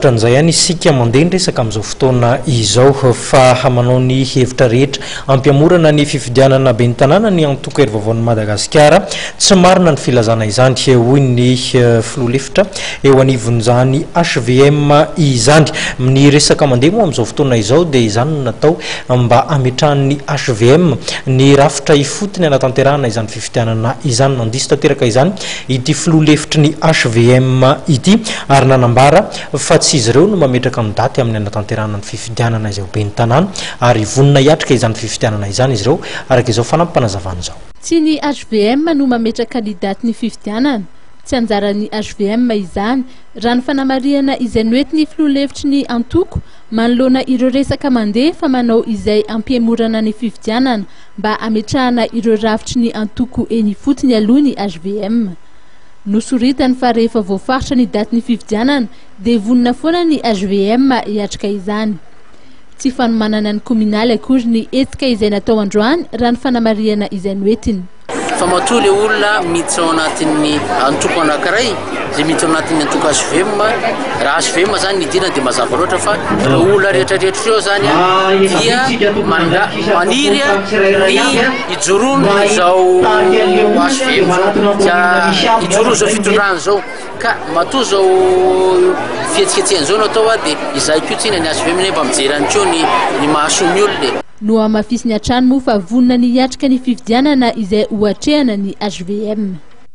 Ohatran'izay ihany isika mandeha ny resaka amin'izao fotoana izao fa manao ny hevitra rehetra hampihamorana ny fifidianana ben'ny tanàna ny antoko Hery Vaovaon'i Madagasikara. Tsy marina ny filazana izany, hoy ny filoha lefitra eo anivon'izany hvm izany. Ny resaka mandeha moa amin'izao fotoana izao dia izany no natao mba hametrahan'ny hvm ny rafitra ifotony hanatanterahana izany fifidianana. fifidianana izany. Nandiso tanteraka izany ity filoha lefitry ny hvm ity ary nanambara fa tsy izy ireo no mametraka ny daty amin'ny hanatanterahana ny fifidianana izay ho ben'ny tanàna ary vonona hiatrika izany fifidianana izany izy ireo, araka izao fanampim-panazavana izao. Tsy ny hvm no mametraka ny datin'ny fifidianana. Tsy anjaran'ny hvm izany, raha ny fanamarihana izay noentin'ny filoha lefitry ny antoko manoloana ireo resaka mandeha fa manao izay hampihemorana ny fifidianana mba hametrahana ireo rafitry ny antoko eny ifotony aloha ny hvm. Nosoritany fa rehefa voafaritra ny datin'ny fifidianana dia vonona foana ny hvm hiatrika izany. Tsy fanomanana ny kominaly akory ny hetsika izay natao androany raha ny fanamarihana izay noentiny. Fa matoa ilay olona miditra ao anatin'ny antoko anankiray Izay miditra ao anatin'ny antoko HVM, raha HVM izany ny idirana dia mazava loatra fa ireo olona rehetrarehetra ireo izany dia manda- maniry ny hijoroany izao HVM izao, za- hijoroany izao fitondrana izao. Ka matoa izao fihetsiketsehana izao no atao dia izaho koa tsinona ny HVM nefa mba mijery ihany koa ny ny mahasoa ny olona e. Nohamafisiny hatrany moa fa vonona ny hiatrika ny fifidianana izay ho atrehana ny HVM.